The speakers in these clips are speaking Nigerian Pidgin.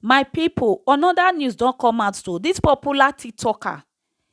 My pipu another news don come out o this popular tiktoker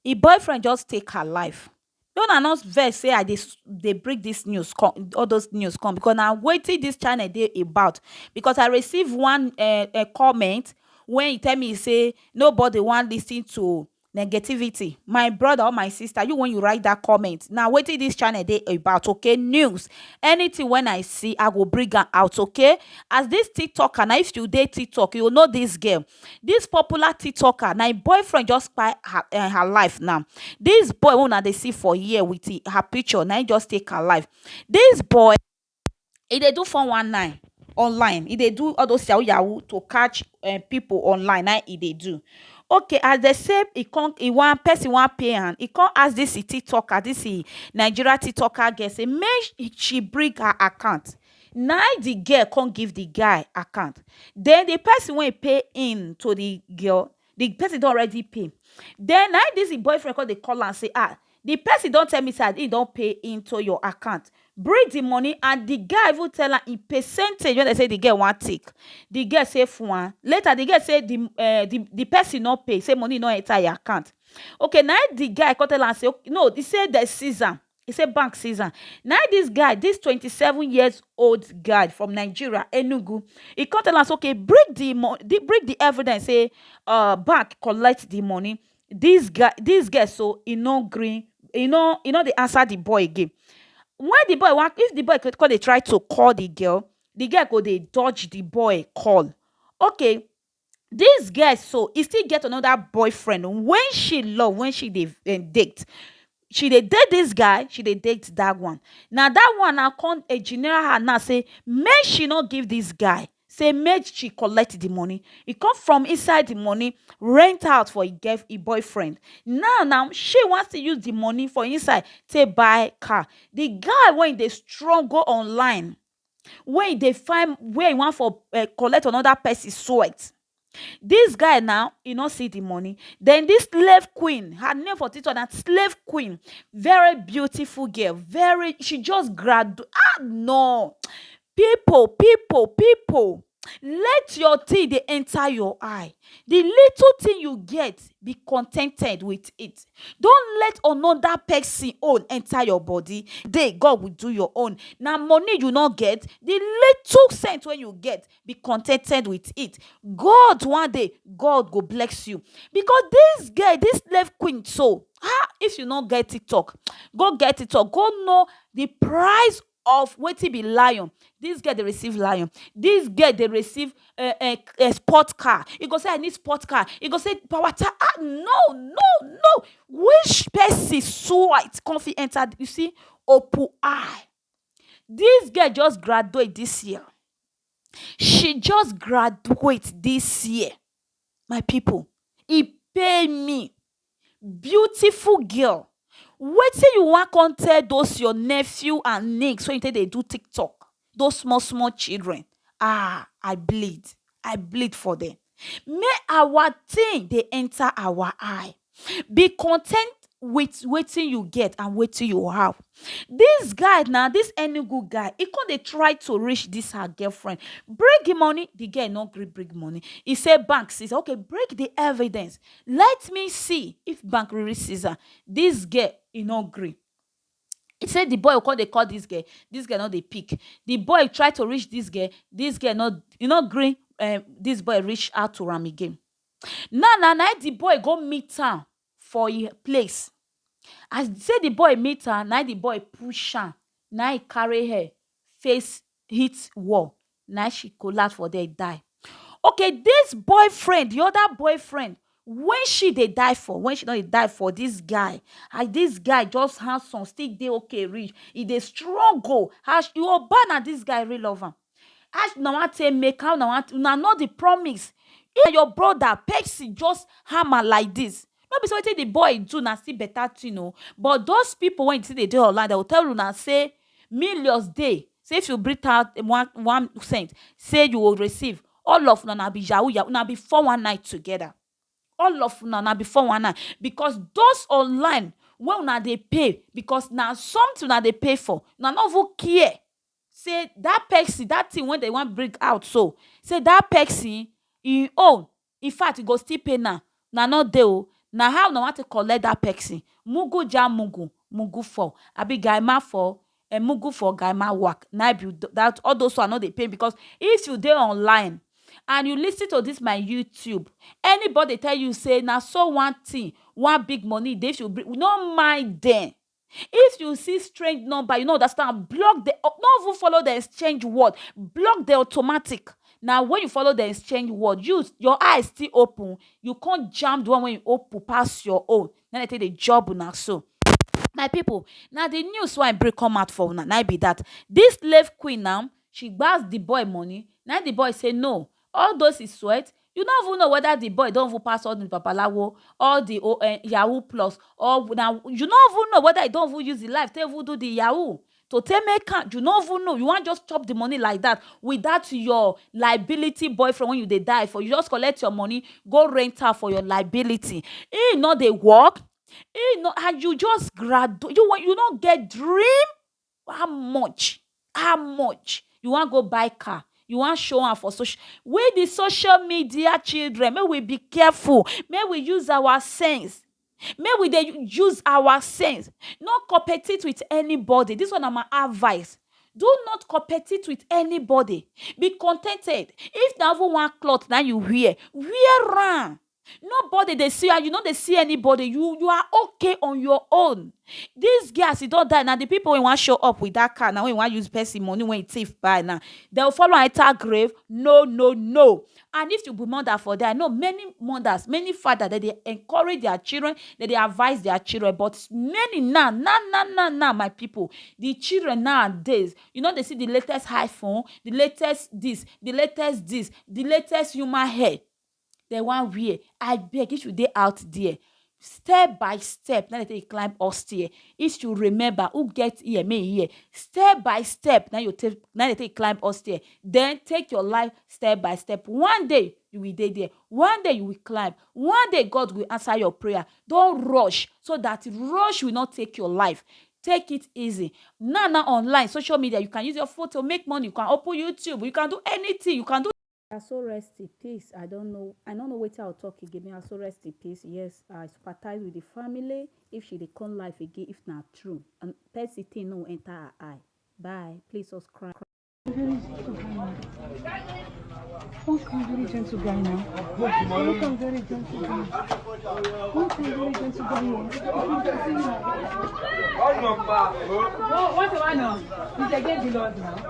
him boyfriend just take her life make una no vex say I dey bring this news come all those news come because na wetin this channel dey about because I receive one um comment wey he tell me say nobody wan lis ten to negativity my brother or my sister you when you write that comment now what is this channel day about okay news anything when i see i will bring her out okay as this tiktoker now if you date tiktok you know this girl this popular tiktoker now boyfriend just by her, uh, her life now this boy when they see for here with her picture now just take her life this boy e dey do four one nine online e dey do all those yahoo yahoo to catch um people online na im e dey do okay as dem say e come e wan person wan pay am e come ask this e tiktoker this e Nigeria tiktoker girl say make she bring her account na im the girl come give the guy account then the person wey pay him to the girl the person don already pay then na this him boyfriend come dey call am say ah the person don tell me say he don pay into your account bring the money and the guy even tell am in percentage when they say the girl wan take the girl say fwan later the girl say the uh, the the person no pay say money no enter your account okay na the guy come tell am say no he say they seize am He say bank seize am. Na im this guy, this 27 years old guy from Nigeria, Enugu, he come tell us, okay, bring the bring the evidence say uh, bank collect the money. This guy, this guy, so he no green, he no, he no dey answer the boy again. When the boy want, if the boy could call, they try to call the girl, the girl go they dodge the boy call. Okay, This girl so e still get another boyfriend wey she love wey she dey date she dey date this guy she dey date that one na that one na come engineer her now say make she no give this guy say make she collect the money e come from inside the money rent out for him girl him boyfriend now na she wan still use the money for inside take buy car the guy wey dey struggle online wey e dey find where e wan for um collect another person sweat. Dis guy now, e no see the money. Den dis slave queen, her name for tiktok na slave queen. Very beautiful girl, very she just gradu ah nor! Pipu, pipu, pipu! Let your thing dey enter your eye, the little thing you get, be contented with it. Don't let another person own enter your body, one day God will do your own. Na money you no get? The little sense wey you get, be contented with it. God one day God go bless you because this girl, this slave queen so, um if you no get TikTok, go get TikTok go know the price of wetin be lion this girl dey receive lion this girl dey receive um um sport car e go say i need sport car e go say power ta ah no no no which person swipe come fit enter you see opu eye this girl just graduate this year she just graduate this year my people e pain me beautiful girl wetin you wan come tell those your nephew and niece wey you take dey do tiktok those small small children ah i bleed i bleed for them May our thing dey enter our eye be content with wetin you get and wetin you have this guy na this enugu guy he come dey try to reach this her girlfriend bring the money the girl no gree bring money he say bank seize okay bring the evidence let me see if bank really seize am this girl he no gree e say di boy go come dey call dis girl dis girl no dey pick di boy try to reach dis girl dis girl no e no gree um dis boy reach out to am again now na na him di boy go meet am for him place as e say di boy meet am na him di boy push am na him carry her face hit wall na im she collapse for there die. Okay this boyfriend the other boyfriend when she dey die for when she don dey die for this guy as this guy just handsome still dey okay reach e dey struggle as you oba na this guy really love am how una wan take make am how una wan take una know the promise if na your brother person just hammer like this no be say wetin the boy do na still better thing oo but those people wey still dey dey online dem go tell una say Millions dey say if you bring out one one cent say you go receive all of una na be yahoo yahoo una be four one nine together all of una na be four one nine because those online wey una dey pay because na something una dey pay for una no even care say that person that thing wey dey wan bring out so say that person him own In fact e go still pay now una no dey oo na how una wan take collect that person mugu jah mugu mugu four abi guy ma four eh mugu four guy ma wak na im be that all those one no dey pain because if you dey online and you listen to this my YouTube anybody tell you say na so one thing one big money dey if you bring no mind dem If you see strange number, you no understand, block the, no even follow the exchange word, block the automatic. Now when you follow the exchange word, you your eyes still open, you can't jam the one when you open pass your own. Then they take the job now so. my people, now the news why break come out for una na be that this slave queen now she gbas the boy money now the boy say no All those his sweat, you no even know whether the boy don even pass all the babalawo, all the o eh yahoo plus, or na you no even know whether he don even use him life take even do the yahoo to take make am, you no even know, you wan just chop the money like that with that your liability boyfriend wey you dey die for, you just collect your money go rent am for your liability, him no dey work, him no and you just gradu you no get dream. How much? How much? You wan go buy car, you wan show am for social we the social media children make we be careful make we use our sense make we dey use our sense no competite with anybody this one na my advice do not competite with anybody be con ten ted if na even one cloth na him you wear, wear am Nobody dey see you and you no dey see anybody. You you are okay on your own. This girl as e don die na the people wey wan show up with that car na wey wan use person money wey e thief buy na dey go follow am enter grave? No no no and if you be mother for there I know many mothers many fathers dem dey encourage their children dem dey advice their children but many now now now now now my people the children nowadays you no dey see the latest iPhone the latest this the latest this the latest human hair. dem wan wear abeg if you dey out there step by step na dey take climb up stair if you remember who get ear may hear step by step na you take na dey take climb up stair then take your life step by step one day you will dey there one day you will climb one day God will answer your prayer don't rush so that rush will not take your life take it easy now now online social media you can use your photo make money you can open YouTube you can do anything you can do Aso rest in peace I don't know I no know wetin I will talk again may Aso rest in peace yes I sympathize with the family if she dey come life again if na true and person thing no enter her eye bye please subscribe. Very gentle guy now. One kind very gentle guy now. One kind very gentle guy. One kind very gentle guy now. What's the one now? He's against the Lord now.